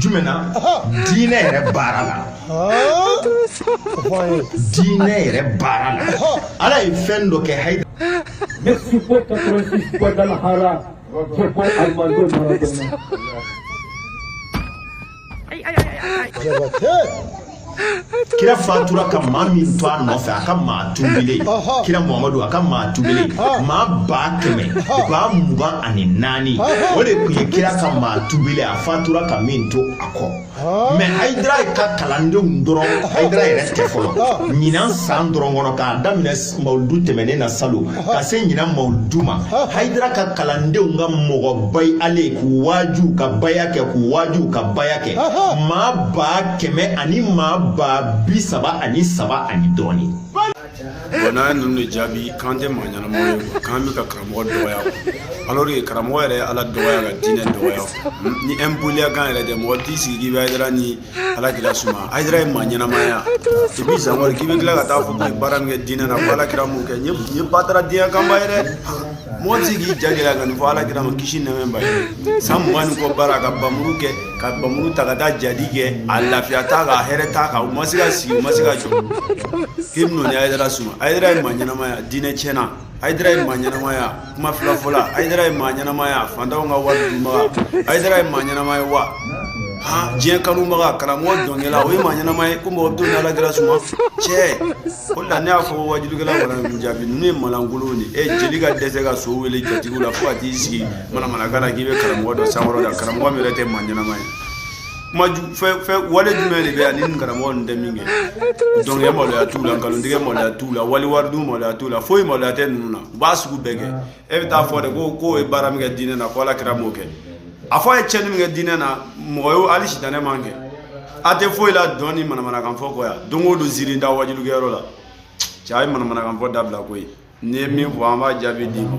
jumɛn na diinɛ yɛrɛ baara la diinɛ yɛrɛ baara la ala ye fɛn dɔ kɛ hayi ne si ko katorisi kɔdala hara ko ko alimando mara dɛmɛ kira fatura ka maa min to a nɔfɛ a ka maa tubilen kira muhamadu a ka maa tubilen maa ba kɛmɛ ba mugan ani naani o de tun ye kira ka maa tubilen a fatura ka min to a kɔ mɛ hayidara ka kalandenw dɔrɔn hayidara yɛrɛ tɛ fɔlɔ ɲinan san dɔrɔn kɔnɔ k'a daminɛ mawuludu tɛmɛnen na salon ka se ɲinan mawuludu ma hayidara ka kalandenw ka mɔgɔ bayalen k'u waaju ka baya kɛ k'u waaju ka baya kɛ maa ba kɛmɛ ani maa ba bi saba ani saba ani dɔɔni bɔn n'an ye ninnu de jaabi k'an tɛ maa ɲɛnama ye k'an bɛ ka karamɔgɔ dɔgɔya alors que karamɔgɔ yɛrɛ ye ala dɔgɔya ka diinɛ dɔgɔya ni ɛnpoliyakan yɛrɛ tɛ mɔgɔ t'i sigi k'i bɛ hayidara ni Ala kira suma hayidara ye maa ɲɛnama ye wa i bɛ sa k'i bɛ tila ka taa fɔ ye baara min kɛ diinɛ na ko ala kira m'o kɛ ye batara diɲɛ kanubaa ye dɛ mɔgɔ tɛ k'i ja ka nin fɔ ala kira ma kisi nɛmɛba ye san mugan kɔ baara ka muru kɛ ka muru ta ka taa jihadi kɛ a lafiya ta ka hɛrɛ ta kan u ma se ka sigi u ma se ka jɔ k'i bɛ hayidara suma hayidara ye maa ɲɛnama ye wa diinɛ tiɲɛna hayidara ye maa ɲɛnama ye wa kuma filafɔla hayidara ye maa ɲɛnama ye wa fantanw ka wari dunbaga hayidara ye maa ɲɛnama ye wa han diɲɛ kanubaga karamɔgɔ dɔnkɛla o ye maa ɲɛnama ye ko mɔgɔ t'o n'ala kira suma cɛ o la ne y'a fɔ waajulikɛla wala jaabi ninnu ye malankolon de e jeli ka dɛsɛ ka so wele jatigiw la fo ka t'i sigi manamanakan na k'i bɛ karamɔgɔ dɔ sankɔrɔta karamɔgɔ min yɛrɛ tɛ maa ɲɛnama ye kuma wale jumɛn de bɛ yan ni karamɔgɔ ninnu tɛ min kɛ dɔnkɛ maloya t'u la nkalontigɛ maloya t'u la waliwaridun maloya t'u la foyi maloya tɛ ninnu na u b'a sugu bɛɛ kɛ e bɛ taa fɔ de ko k'o ye baara min kɛ diinɛ na ko ala kira m'o kɛ a fɔ a ye tiɲɛni min kɛ diinɛ na mɔgɔ y'o hali sitanɛ m'a kɛ a tɛ foyi la dɔn ni manamanakan fɔ kɔ yan don o don ziiri da waajulikɛyɔrɔ la cɛ a ye manamanakan fɔ dabila koyi n'i ye min fɔ an b'a jaabi d'i ma